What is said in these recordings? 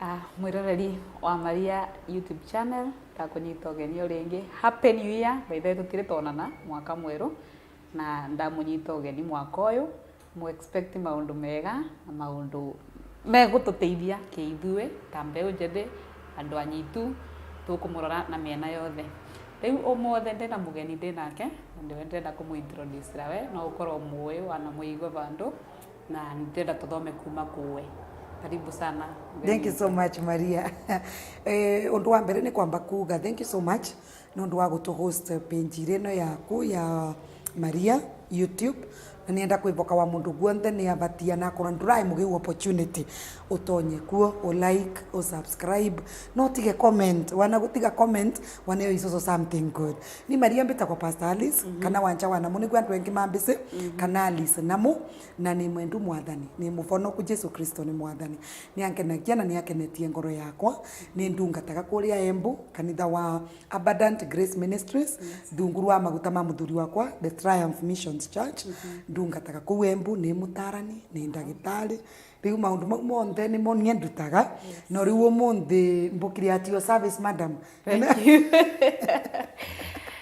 Ah, mwiroreri wa maria youtube channel ndakũnyita ũgeni o rĩngĩ happy new year maithe tũtirĩ tonana mwaka mwerũ na ndamũnyita ũgeni mwaka ũyũ Mũ expect maũndũ mega na maũndũ megũtũteithia kĩithuĩ ta mbeũ njĩthĩ, andũ anyitu, tũkũmũrora na mĩena yothe. Rĩu ũmũthĩ ndĩna mũgeni ndĩnake na nĩwe ndĩrenda kũmũ introduce na we no ũkorwo ũmũĩ wana mũigua bandũ na nĩ ndĩrenda tũthome kuma kũwe. Karibu sana. Thank you so much Maria. Ũndũ wa mbere nĩ kwamba kuga thank you so much. nĩ ũndũ wa gũtũ host page irĩ ĩno yaku ya Maria YouTube. Na nĩ enda kwĩboka wa mũndũ guonthe nĩ abatia na akorwo ndũraĩ mũgĩu opportunity ũtonye kuo ũ like ũ subscribe na ũtige comment wana gũtiga comment wana ĩyo is also something good. Niĩ Maria mbĩtagwo Pastor Alice kana Wanja wa Namu nĩguo andũ aingĩ mambĩsĩ kana Alice Namu na nĩ mwendu mwathani nĩ mũbonoku Jesu Kristo nĩ mwathani. Nĩ angenagia na nĩ akenetie ngoro yakwa. Nĩ ndungataga kũrĩa Embu, kanitha wa Abundant Grace Ministries, rungu rwa maguta ma mũthuri wakwa, The Triumph Missions Church. Ndungataga kũu Embu, nĩ mũtarani, nĩ ndagĩtarĩ. Rĩu maũndũ mau monthe nĩmo niĩ ndutaga. No rĩu ũmũthĩ mbũkire at your service madam.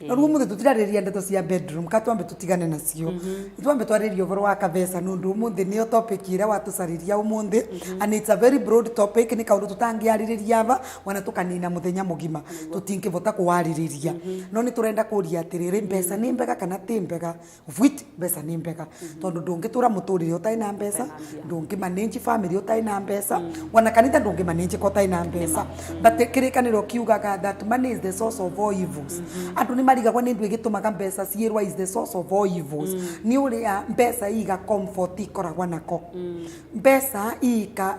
na rĩu ũmũthĩ tũtirarĩrĩria ndeto cia bedroom ka twambe tũtigane nacio itwambe twarĩrĩria ũhoro wa kabeca nĩ ũndũ ũmũthĩ nĩyo topic ĩrĩa watũcarĩria ũmũthĩ and it's a very broad topic nĩ kaũndũ tũtangĩarĩrĩria aba wana tũkanina mũthenya mũgima tũtingĩbota kũwarĩrĩria no nĩ tũrenda kũria atĩrĩrĩ mbeca nĩ mbega kana tĩ mbega vwiti mbeca nĩ mbega tondũ ndũngĩtũra mũtũrĩre ũtarĩ na mbeca ndũngĩmanĩnji famĩlĩ ũtarĩ na mbeca ona kanitha ndũngĩmanĩnjĩka ũtarĩ na mbeca but kĩrĩkanĩro kiugaga that money is the source of all evils andũ nĩ marigagwo nĩ ndũ ĩgĩtũmaga mbeca ciĩrwa is the source of all evils nĩ ũrĩa mbeca iga comfort ikoragwa nako mbeca iga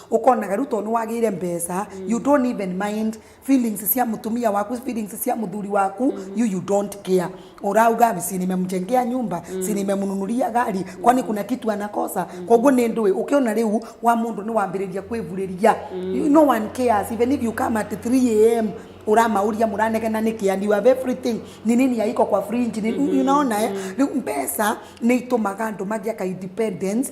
ũkonaga rĩu tondũ nĩwagĩire mbeca you don't even mind feelings cia mũtumia waku feelings cia mũthuri waku you, you don't care urauga si nimemjengea nyumba si nimemnunulia gari kwani kuna kitu anakosa koguo nĩ ndũĩ ũkĩona rĩu wa mũndũ nĩwambĩrĩria kwĩvurĩria You- no one cares even if you come at 3 am uramauria muranegena niki and you have everything ni nini yaiko kwa fringe ni, unaona eh? Rĩu mbeca nĩ itũmaga andũ magĩa ka independence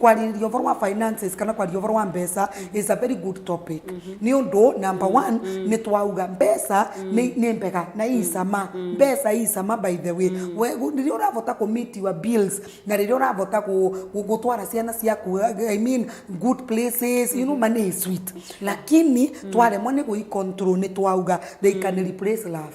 kwarirĩria ũboro wa finances kana kwaria ũboro wa mbeca is a very good topic nĩ ũndũ number one nĩ twauga mbeca nĩ nĩ mbega na ii cama mbeca ii cama by the way We- gu- rĩrĩa ũrabota kũ meet your bills na rĩrĩa ũrabota kũ- gũ- gũtwara ciana ciaku i mean good places you know money is sweet lakini twaremwo nĩ gũi control nĩ twauga they can replace love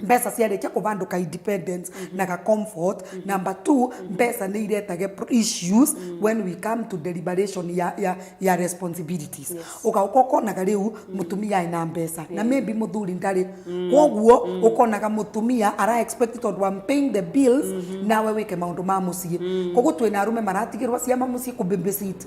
mbeca ciarĩkia kũbandũ ka independence na ga comfort number two mbeca nĩ iretage pro- issues when we come to deliberation ya, ya, ya responsibilities ũgauka ũkonaga rĩu mũtumia arĩ na mbeca na maybe mũthuri ndarĩ kwoguo ũkonaga mũtumia ara expect tondũ I'm paying the bills nawe wĩke maũndũ ma mũciĩ kwoguo twĩna arũme maratigĩrwo ciama mũciĩ kũbabysit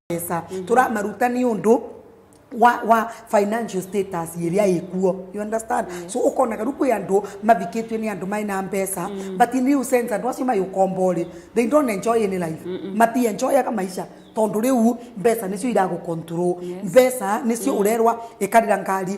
mbeca turamaruta nĩ ũndũ wa wa financial status ĩrĩa ĩkuo you understand so ũkonaga rĩu kwĩ andũ mathikĩtio nĩ andũ maĩ na mbeca but in real sense andũ acio maĩ ũkombo rĩ they don't enjoy any life mati enjoyaga maica tondũ rĩu mbeca nĩcio iragũ control mbeca nĩcio ũrerwa ĩkarĩra ngari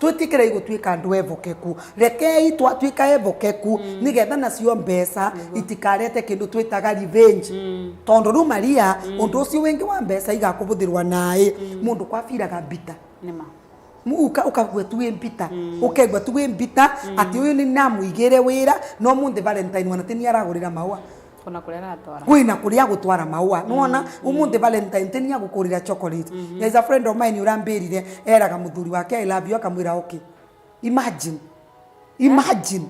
twĩtĩkĩrei gũtuĩka andũ evokeku rekei twatuĩka evokeku mm. nĩgetha nacio mbeca mm. itikarete kĩndũ twĩtaga revenge mm. tondũ rĩu maria mm. ũndũ ũcio wĩngĩ wa mbeca igakũbũthĩrwa naĩ mm. mũndũ kwabiraga mbita Nima uka ukagua tu mbita mm. ukegwa tu mbita mm. ati uyu ni namuigire wira no munthi valentine wanatini aragurira mawa Kuna kũrĩa aratwara. Kwĩ na kũrĩa agũtwara maũa. Nĩwona ũmũthĩ Valentine tĩ nĩ agũkũrĩra chocolate. There is a friend of mine ũrambĩrire eraga mũthuri wake I love you akamwĩra okay. Imagine. Imagine.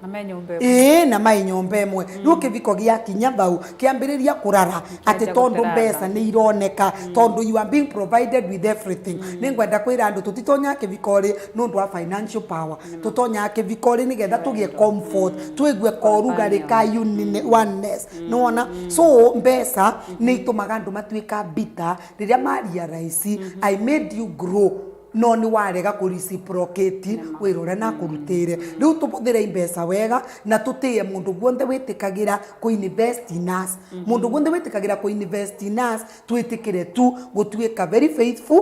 Na me nyũmba ĩmwe. Ĩĩ na maĩ nyũmba ĩmwe. Rĩu kĩbiko gĩakinya bau kĩambĩrĩria kũrara atĩ Kĩambia tondũ gũtara mbeca tha. nĩ ironeka tondũ you are being provided with everything. Nĩ ngwenda kwĩra andũ tũtitonyaga kĩbiko rĩ nĩ ũndũ wa financial power. tũtonyaga kĩbikori nĩgetha tũgĩe comfort twĩgue korugarĩ ka unine- oneness nĩ wona so mbeca nĩ itũmaga andũ matuĩka bitter rĩrĩa maria raici i made you grow no nĩ warega kũ reciprocate wĩra ũrĩa nakũrutĩire rĩu tũhũthĩre mbeca wega na tũtĩe mũndũ guothe wĩtĩkagĩra kũ invest in us mũndũ guothe wĩtĩkagĩra kũ invest in us twĩtĩkĩre tu gũtuĩka very faithful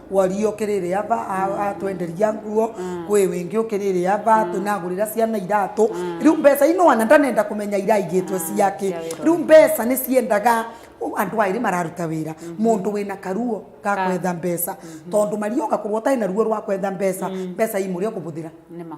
wari ũkĩrĩrĩ aba a- atwenderia nguo kwĩ wĩngĩ ũkĩrĩrĩ aba tunagũrĩra ciana iratũ rĩu mbeca ino wana ndanenda kũmenya iraigĩtwe ciake cia wĩra rĩu mbeca nĩ ciendaga ũ- andũ aĩrĩ mararuta wĩra mũndũ wĩna karuo ga kwetha mbeca tondũ marioka kũrwo ũtarĩ na ruo rwa kwetha mbeca mbeca imũrĩa ũkũbũthĩra nĩma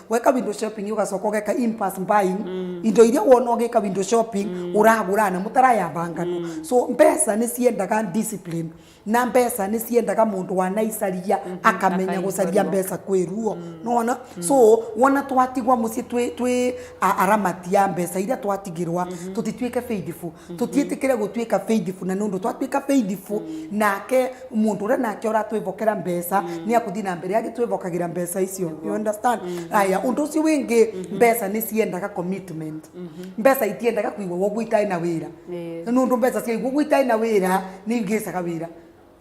weka window shopping ugacoka ugeka impulse buying indo iria wona ugika window shopping uragura na mutarayamba ngano so mbeca nĩ ciendaga discipline na mbeca nĩ ciendaga mũndũ wanaicaria akamenya akaihũrwo. gũcaria mbeca kwĩ ruo nona so wona twatigwa mũciĩ twĩ twĩ a- aramati ya mbeca iria twatigirwa tũtituĩke faithful tũtiĩtĩkĩre gũtuĩka faithful na nũndũ twatuĩka faithful nake mũndũ ũrĩa nake ũratwĩvokera mbeca nĩ akũthiĩ na mbere agĩtwĩvokagĩra mbeca icio you understand aya ũndũ ũcio wĩngĩ mbeca nĩ ciendaga commitment mbeca itiendaga kũigwo ũguo itarĩ na wĩra Ĩĩ. nũndũ mbeca ciaigwo ũguo itarĩ na wĩra nĩ ingĩcaga wĩra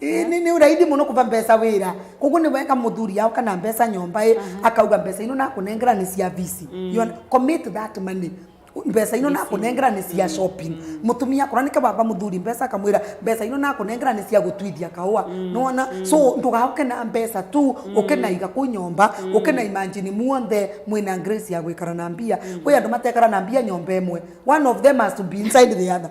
Ĩ, nĩ nĩ raithi mũno kũva mbeca wĩra koguo nĩ weka mũthuri yao kana mbeca nyomba ĩ akauga mbeca ino nakũnengera nĩ cia visi You under- commit that money mbeca ino nakũnengera nĩ cia shopping mũtumia akorwo nĩke wava mũthuri mbeca akamwĩra mbeca ino nakũnengera nĩ cia gũtuithia kahũa nĩwona so ndũgaũke na mbeca tu ũke na iga kũ nyomba ũke na imagine muonthe mwĩna grace ya gwĩkara na mbia kwĩ andũ matekara na mbia nyomba ĩmwe one of them has to be inside the other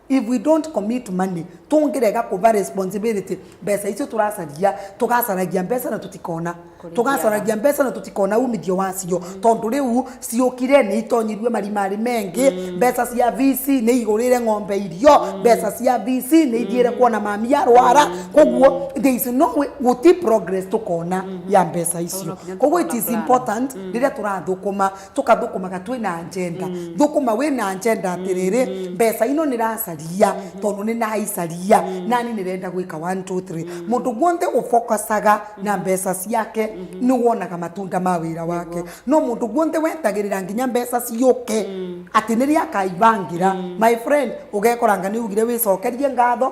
if we don't commit money tũngĩrega kũva responsibility mbeca icio tũracaria tũgacaragia mbeca na tũtikona tũgacaragia mbeca na tũtikona umithio wacio tondũ rĩu ciũkire nĩ itonyirie marimarĩ mengĩ mm. mbeca cia VC nĩ igũrĩre ng'ombe irio mm. mbeca cia VC nĩ ithiĩre mm. kuona mami arwara koguo there is no way gũti progress tũkona mm-hmm. ya mbeca icio koguo it is important rĩrĩa tũrathũkũma tũkathũkũmaga twĩ na njenda thũkũma wĩ na njenda atĩrĩrĩ mbeca ino nĩ racaria tondũ nĩ naicaria nani nĩ renda gwĩka 1 2 3 mũndũ guothe ũbokacaga na mbeca ciake nĩ wonaga matunda ma wĩra wake no mũndũ guothe wetagĩrĩra nginya mbeca ciũke atĩ nĩrĩa akaibangĩra my friend ũgekoranga nĩ ugire wĩcokerie ngatho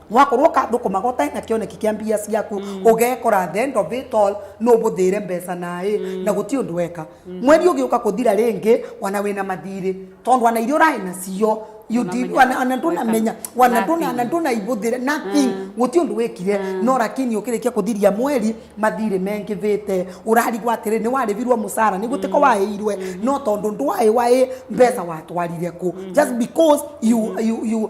wakorwo kathũkũmaga ũtarĩ na kĩoneki kĩa mbia ciaku mm. ũgekora the end of it all no ũbũthĩre mbeca naĩ mm. na gũtirĩ ũndũ weka mm. mweri ũgĩũka kũthira rĩngĩ wana wĩna mathirĩ tondũ wana iria ũraĩ nacio wana ndunamenya wana ndunana ndunaibuthire nothing mm. guti undu wikire mm. no lakini ukirikia kuthiria mweri mathiri mengithite urarigwa atiri ni waribirwo musara ni gutiko mm. wairwe no tondu ndwai wai mbesa watwarire ku just because you you you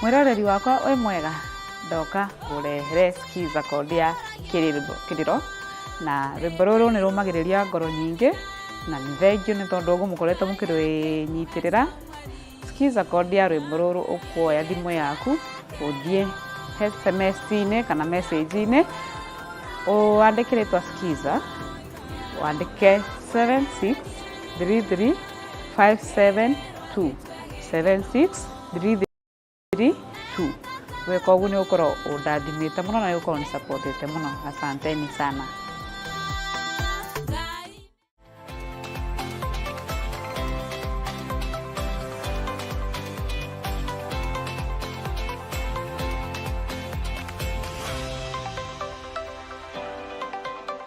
mwĩroreri wakwa wĩ mwega ndoka kũrehere skiza called ya kĩrĩro- kĩrĩro na rwĩmbo rũrũ nĩ rũmagĩrĩria ngoro nyingĩ na nĩ thengio nĩ tondũ ũguo mũkoretwo mũkĩrwĩnyitĩrĩra skiza called ya rwĩmbo rũrũ ũkuoya thimũ yaku ũthiĩ sms-inĩ kana message-inĩ ũandĩke rĩtwa skiza wandĩke 7633572 7633572 weka ũguo nĩ ũkorwo ũndathimĩte mũno na nĩ ũkorwo nĩ supportĩte mũno asanteni sana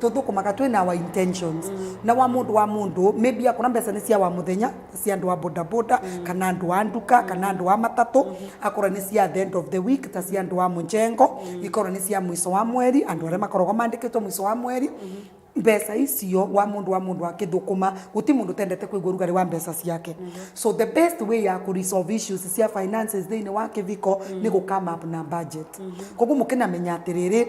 tũthũkũmaga twĩ na our intentions mm. na wa mũndũ wa mũndũ maybe akona mbeca nĩ cia wa mũthenya cia andũ a bodaboda mm. kana andũ a nduka mm. kana andũ a matatũ mm -hmm. akorwo nĩ cia the end of the week ta cia andũ a mũnjengo mm. ikorwo nĩ cia mũico wa mweri andũ arĩa makoragwo mandĩkĩtwo mũico wa mweri mm -hmm mbeca icio wa mundu wa mundu akithukuma guti mundu tendete kuigua rugari wa mbeca ciake mm -hmm. so the best way ya ku resolve issues cia finances thini wa kiviko mm -hmm. ni gukama up na budget mm -hmm. koguo mukinamenya atiriri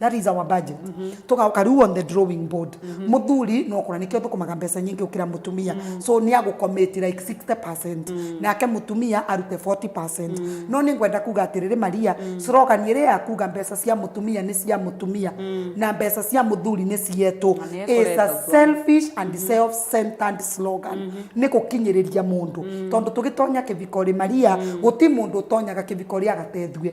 that is our budget tugaoka riu on the drawing board muthuri no kura nikio thukumaga mbeca nyingi ukira mutumia so ni agukomiti like 60% nake mutumia arute 40% no ni ngwenda kuga atiriri maria slogan iri ya kuga mbeca cia mutumia ni cia mutumia na mbeca cia muthuri ni cietu Na nĩ is a ĩkoretwo. selfish and self-centered slogan nä gå kinyä rä ria må ndå tondå tå gä tonya kä bikori maria gå ti må ndå å tonyaga kä bikori agateithue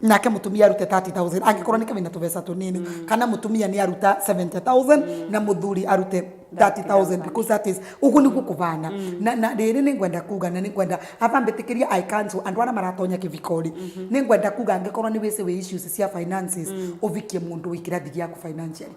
nake mutumia arute 30000 angikorwo ni kawina tubesa tunini kana mutumia ni aruta 70000 na muthuri arute 30000 because that is ugu ni gukubana na na riri ni ngwenda kuga na ni ngwenda aba mbitikiria i cancel andu ara maratonya kivikori ni ngwenda kuga angikorwo ni wisi wi issues cia finances uvikie mundu wikirathi giaku financially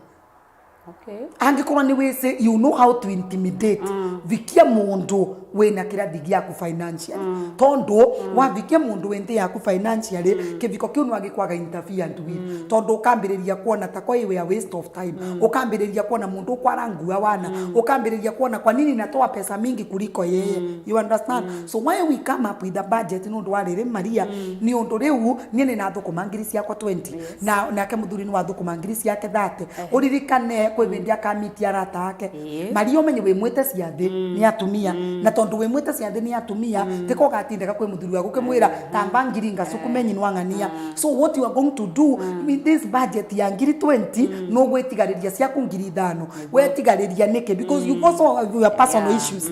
Okay. angĩkorwo nĩ wĩsĩ you know how to intimidate mm. vikia mũndũ wĩna kĩrathi gĩaku financially mm. tondũ mm. wavikia mũndũ wĩ nthĩ yaku financially mm. kĩviko kĩu nĩ wagĩkwaga interferent with mm. tondũ ũkambĩrĩria kuona ta kwa iwe a waste of time mm. ũkambĩrĩria kuona mũndũ kwara ngua wana mm. ũkambĩrĩria kuona kwa nini natoa pesa mingi kuliko yeye mm. you understand mm. so why we come up with a budget nĩ ũndũ wa rĩrĩ maria mm. nĩ ũndũ rĩu niĩ nĩ nathũkũma ngiri ciakwa 20 yeah. na nake muthuri ni wa thukuma ngiri ciake thate uririkane kwi bindi akamitia arata ake Ĩĩ. maria umenye wi mwite ciathi ni atumia na tondu wi mwite ciathi ni atumia tiko gatindega kwi muthuri waku kimwira tamba ngiri ngacukume nyinwa ng'ania so what you are going to do with this budget ya ngiri 20 no gwitigariria ciaku ngiri ithano wetigariria niki because you also have your personal Yeah. issues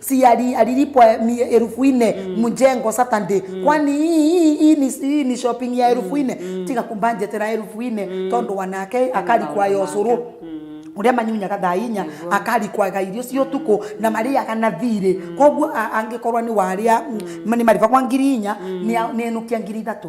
si ali- alilipwa mi- elfu nne mjengo Saturday kwani hii- hii hii ni hii ni shopping ya elfu nne tiga kumbanje tena elfu nne tondu wanake akali kwa yosuru uria manyunya gathainya akari kwaga irio cio tuko na mariaga na thirĩ koguo a- angĩkorwo nĩ waria nĩ mariba kwa ngiri inya nĩ a- nĩ enukia ngiri ithatũ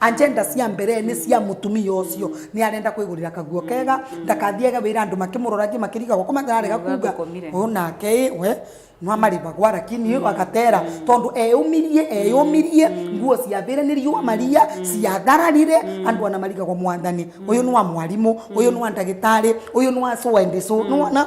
agenda cia mbere nĩ cia mũtumia ũcio nĩ arenda kwĩgũrĩra kaguo kega ndakathiage wĩra andũ makĩmũroragie makĩriga gũkũ matararega Nĩ kuga ũkomire. o nake ĩ we no amarĩbagwa lakini agatera tondũ eyũmirie eyũmirie nguo ciathĩre nĩ riũa maria ciathararire andũ ana marigagwo mwathani ũyũ nĩ wa mwarimũ ũyũ nĩ wa ndagĩtarĩ ũyũ nĩ wa so and so nĩ wona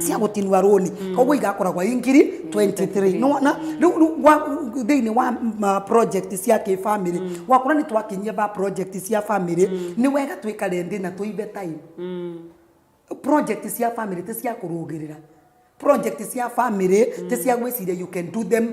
cia gũtinua rũni koguo igakoragwo i ngiri 23 nĩwona rĩu rĩu wa- thĩinĩ wa ma project cia kĩbamĩrĩ wakora nĩ twakinyia ba project cia bamĩrĩ nĩ wega twĩkare ndĩ na tũibe time project cia family ti cia kũrũgĩrĩra project cia family ti cia gwĩciria you can do them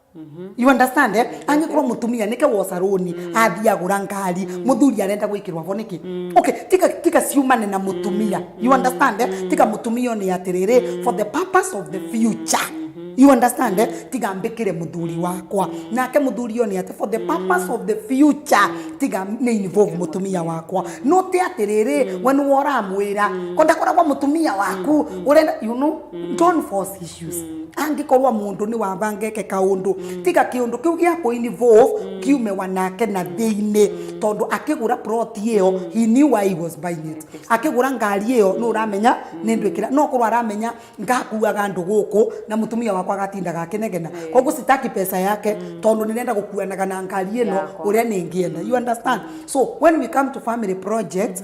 you understand eh? angĩkorwo mũtumia nĩke woca rũni athiĩ agũra ngari mũthuri arenda gwĩkĩrwo abo nĩkĩ okay tika tika ciumane na mũtumia you understand eh? tika mũtumia nĩ atĩrĩrĩ for the purpose of the future you understand eh? tiga mbĩkĩre mũthuri wakwa nake mũthuri ũyũ nĩ atĩ for the purpose of the future tiga nĩ involve mũtumia wakwa no ti atĩrĩrĩ we nĩwe ũramwĩra ko ndakoragwo mũtumia waku ũrenda you know don't force angĩkorwo mũndũ nĩ wabangeke kaũndũ tiga kĩũndũ kĩu gĩa kũ involve kiume wanake na thĩinĩ tondũ akĩgũra plot ĩyo he knew why he was buying it akĩgũra ngari ĩyo nĩ ũramenya nĩ ndwĩkĩra no korwo aramenya ngakuaga andũ gũkũ na mũtumia wakwa agatindaga akĩnegena koguo sitaki pesa yake tondũ nĩrenda gũkuanaga na ngari ĩno Yakwa. ũrĩa nĩngĩenda you understand so when we come to family project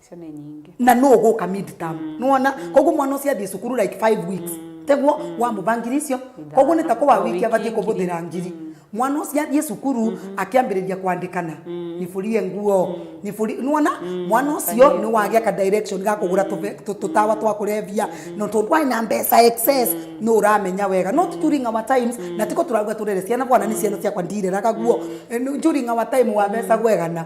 icio nĩ nyingĩ na no ũgũka mid term mm. nĩwona mm. koguo mwana ũcio athiĩ cukuru like five weeks mm. teguo mm. wamũba ngiri icio koguo nĩ ta kũwa wiki abatiĩ kũbũthĩra ngiri mm. mwana ũcio athiĩ cukuru mm -hmm. akĩambĩrĩria kwandĩkana mm. Mm. nifurie nguo mm. nifuri nuona mm. mwana ucio ni wagia ka direction ga kugura tutawa twa kurevia no tondu ai na mbeca excess no uramenya wega not during our times na tiko turaruga turere ciana bwana ni ciana ciakwa ndireraga guo eh, during our time wa mbeca gwegana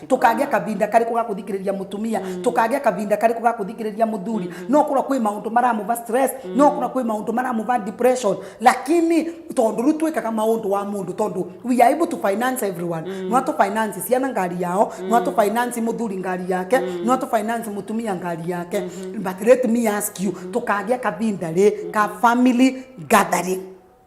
tukagĩa kavinda karĩkũ ga kũthikĩrĩria mũtumia mm. tukagĩa kavinda karĩkũ ga kũthikĩrĩria mũthuri mm. no kũra kwĩ maũndũ maramũva stress mm. no kũra kwĩ maũndũ maramũva depression lakini tondũ rĩu twĩkaga maũndũ wa mũndũ tondũ we are able to finance everyone mm. no atũ finance ciana ngari yao mm. no atũ finance mũthuri ngari yake mm. no atũ finance mũtumia ngari yake mm -hmm. but let me ask you mm. tukagĩa kavinda rĩ ka family gathering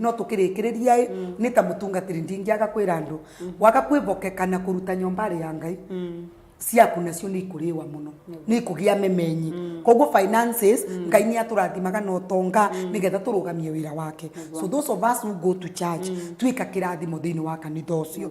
no tũkĩrĩkĩrĩria ĩ nĩ ta mũtungatĩri ndingĩaga kwĩra andũ waga kwĩbokeka na kũruta nyombarĩ ya ngai ciaku nacio nĩ ikũrĩwa mũno nĩ ikũgĩa memenyi koguo finances ngai nĩ atũrathimaga na ũtonga nĩgetha tũrũgamie wĩra wake so those of us who go to church tuĩka kĩrathimo thĩinĩ wa kanitha ũcio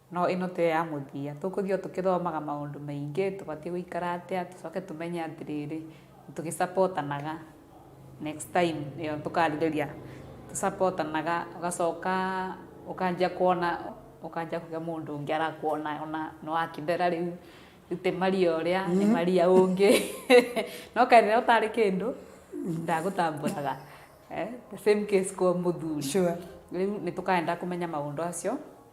No ĩno tiyo ya mũthia. Tũkũthiĩ o tũkĩthomaga maũndũ maingĩ, tũbatiĩ gũikara atĩa, tũcoke tũmenye atĩrĩrĩ, tũgĩ support anaga next time ĩyo tũkarĩrĩria tũ support anaga, ũgacoka ũkanjia kuona, ũkanjia kuga mũndũ ũngĩ arakuona ona nĩ wakĩthera rĩu, rĩu ti Maria ũrĩa, nĩ Maria ũngĩ. No kaĩ rĩrĩa ũtarĩ kĩndũ, ndagũtambũraga. The same case kwa mũthuri. Rĩu nĩ tũkaendaga kũmenya maũndũ acio,